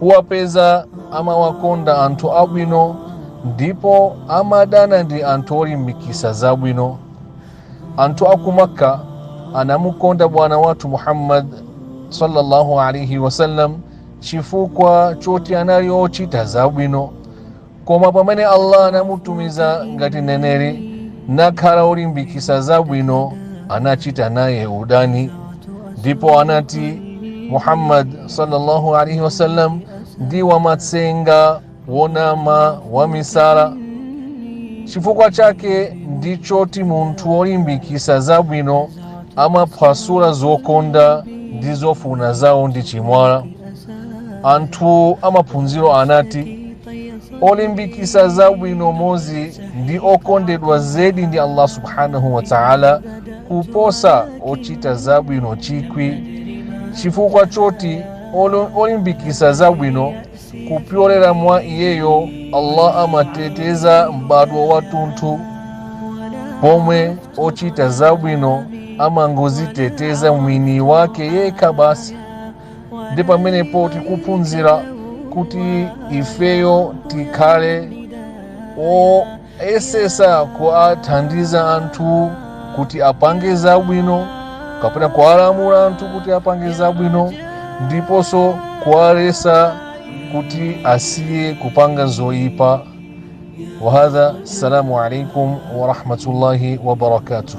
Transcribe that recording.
uwapeza amawakonda anthu abwino ndipo amadana ndi anthu olimbikisa zabwino anthu aku makka anamukonda bwana wathu muhammad sallallahu alaihi wasallam chifukwa choti anali ochita zabwino koma pamene allah anamutumiza ngati neneri nakhala olimbikisa zabwino anachita naye udani ndipo anati muhammad sallallahu alaihi wasallam ndi wamatsenga wonama wamisala chifukwa chake ndichoti munthu wolimbikisa zabwino amaphwasula zokonda ndi zofuna zawo ndi chimwala anthu amaphunziro anati olimbikisa zabwino mozi ndi okondedwa zedi ndi allah subhanahu wa taala kuposa ochita zabwino chikwi chifukwa choti olimbikisa zabwino kupyolera mwa iyeyo allah amateteza m'badwo watunthu pomwe ochita zabwino amangoziteteza mwini wake yekha basi ndi pamenepo tikuphunzira kuti ifeyo tikhale oyesesa kuathandiza anthu kuti apange zabwino kapena kuwalamula anthu kuti apange zabwino ndiponso kuwalesa kuti asiye kupanga zoyipa wahadha assalamu alaikum warahmatullahi wabarakatuh